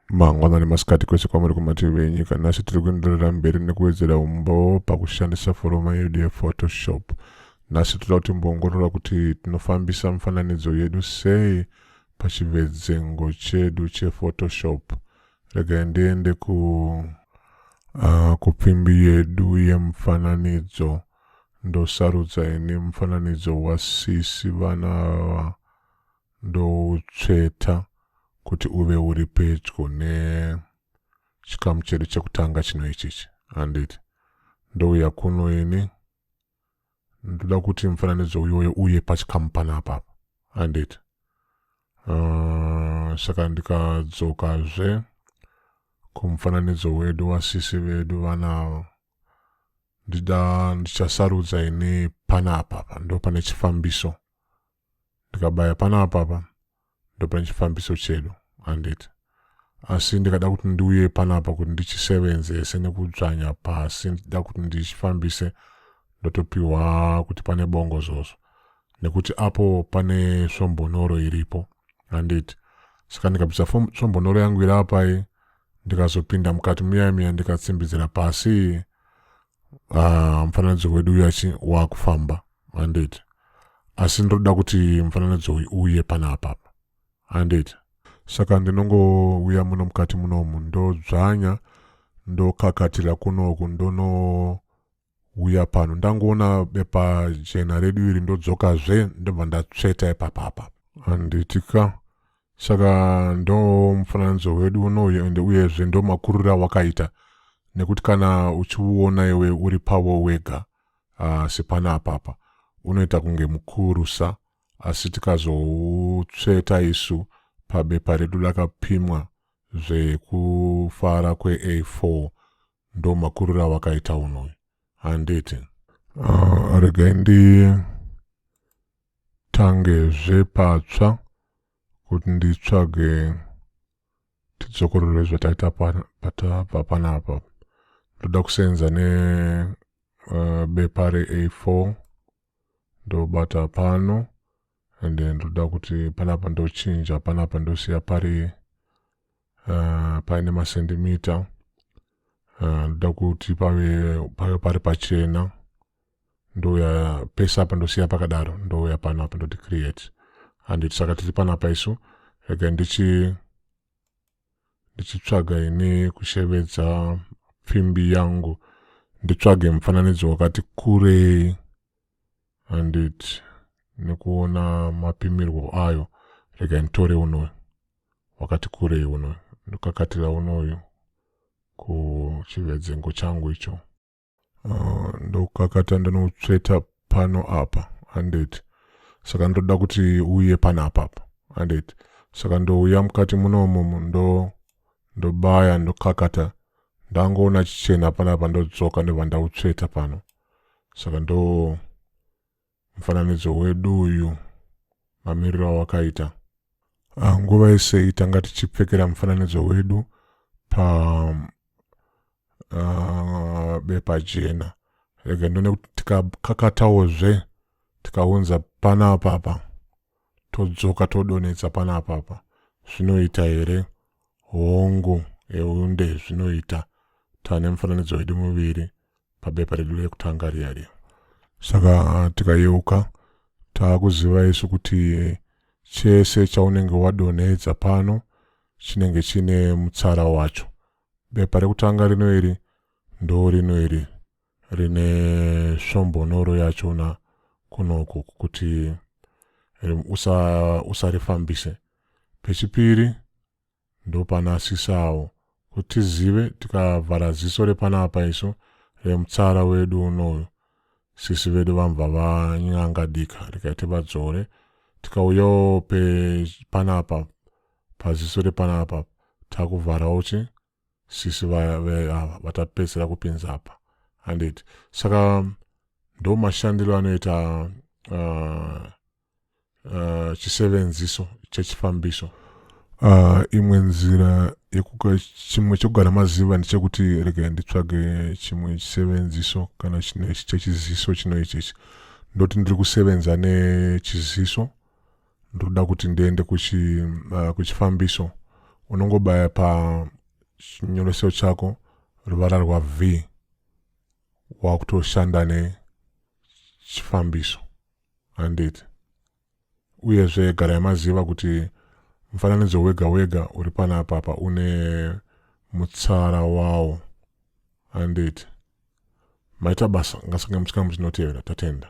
mangwanani masikati kwese kwamuri kumativi venyika nhasi tiri kuenderera mberi nekuwedzera umbowo pakushandisa foroma yedu yephotoshop nhasi toda kuti mboongorora kuti tinofambisa mifananidzo yedu sei pachivedzengo chedu chephotoshop regai ndiende ku uh, kupfimbi yedu yemufananidzo ndosarudza ini mufananidzo wasisi vana ava ndoutsveta kuti uve uri pedyo nechikamu chedu chekutanga chino ichichi handiti ndouya kuno ini ndoda kuti mufananidzo uyoyo uye pachikamu pana apapa handiti uh, saka ndikadzokazve kumufananidzo wedu wasisi vedu vana ava ndida ndichasarudza ini panapa pa ndo pane chifambiso ndikabaya panapa pa ndo pane chifambiso chedu handiti asi ndikada kuti ndiuye panapa kuti ndichisevenzese nekudzvanya pasi ndida kuti ndichifambise ndotopiwa kuti pane bongo zvozvo nekuti apo pane svombonoro iripo handiti saka ndikabvisa svombonoro yangu iri apai ndikazopinda mukati muya miya ndikatsimbidzira pasi ah, mufananidzo wedu uyu achi wakufamba handiti asi ndinoda kuti mufananidzo uyu uye pana apapa handiti saka ndinongouya muno mukati munomu ndodzvanya ndokakatira kunoku ndono huya pano ndangoona bepa jena redu iri ndodzoka zve ndobva ndatsveta ipapapa handiti ka saka ndo mufananidzo wedu unoyu ende uyezve ndo makurira wakaita nekuti kana uchiuona iwe uri pavo wega uh, sepana apapa unoita kunge mukurusa asi tikazoutsveta isu pabepa redu lakapimwa zvekufara kwe-a4 ndo makuriro awakaita unhu uyu handiti uh, ah, regai nditangezve patsva kuti nditsvage tidzokorore zvataita patapa panapa ndoda kusenza ne uh, bepa re a4 ndobata pano and then ndoda kuti panapa ndochinja panapa ndosiya pari uh, paine masendimita uh, ndoda kuti pave pave pari pachena ndouya pese apa ndosiya pakadaro ndouya pano apa ndoti create handiti saka tiri panapa isu regai ndichi ndichitsvaga ini kushevedza pfimbi yangu nditsvage mufananidzo wakati kurei handiti nekuona mapimirwo ayo rega nditore unoyu wakati kurei unoyu ndokakatira unoyu kuchivedzengo changu icho uh, ndokakata ndinotsveta pano apa handeti saka ndoda kuti uye pana apapa handeti saka ndouya mukati munomo ndo ndobaya ndokakata ndangoona chichena panapa ndodzoka ndobva ndautsveta pano saka ndo Mufananidzo wedu uyu mamiriro awakaita. Ah, nguva yese tanga tichipfekera mufananidzo wedu pa ah, bepa jena rega ndone kuti tikakatawo zve tikaunza panapapa todzoka todonetsa panapapa zvinoita here hongu eunde zvinoita tane mufananidzo wedu muviri pabepa redu rekutanga riya riya saka tikayeuka taakuziva isu kuti chese chaunenge wadonhedza pano chinenge chine mutsara wacho bepa rekutanga rino iri ndo rino iri rine svombonoro yacho na kunoku kuti usarifambise usa pechipiri ndopanasisawo kuti tizive tikavhara ziso repanapa isu remutsara wedu unoyu sisi vedu vambva vanyanga dika rikaiti vadzore tikauyawo panapa paziso repanapa takuvharawo chi sisi ava vatapedzera kupinza apa handiti saka ndomashandiro anoita uh, uh, chisevenziso chechifambiso uh, imwe nzira chimwe chekugara maziva ndechekuti regai nditsvage chimwe chisevenziso kana chechiziso chino ichechi ndoti ndiri kusevenza nechiziso ndoda kuti ndiende uh, kuchifambiso uh, unongobaya pachinyoreso chako ruvara rwav wakutoshanda nechifambiso handiti uyezve garai maziva kuti mufananidzo wega wega uri pana apapa une mutsara wawo handiti maita basa ngasange muchikamu chinotevera tatenda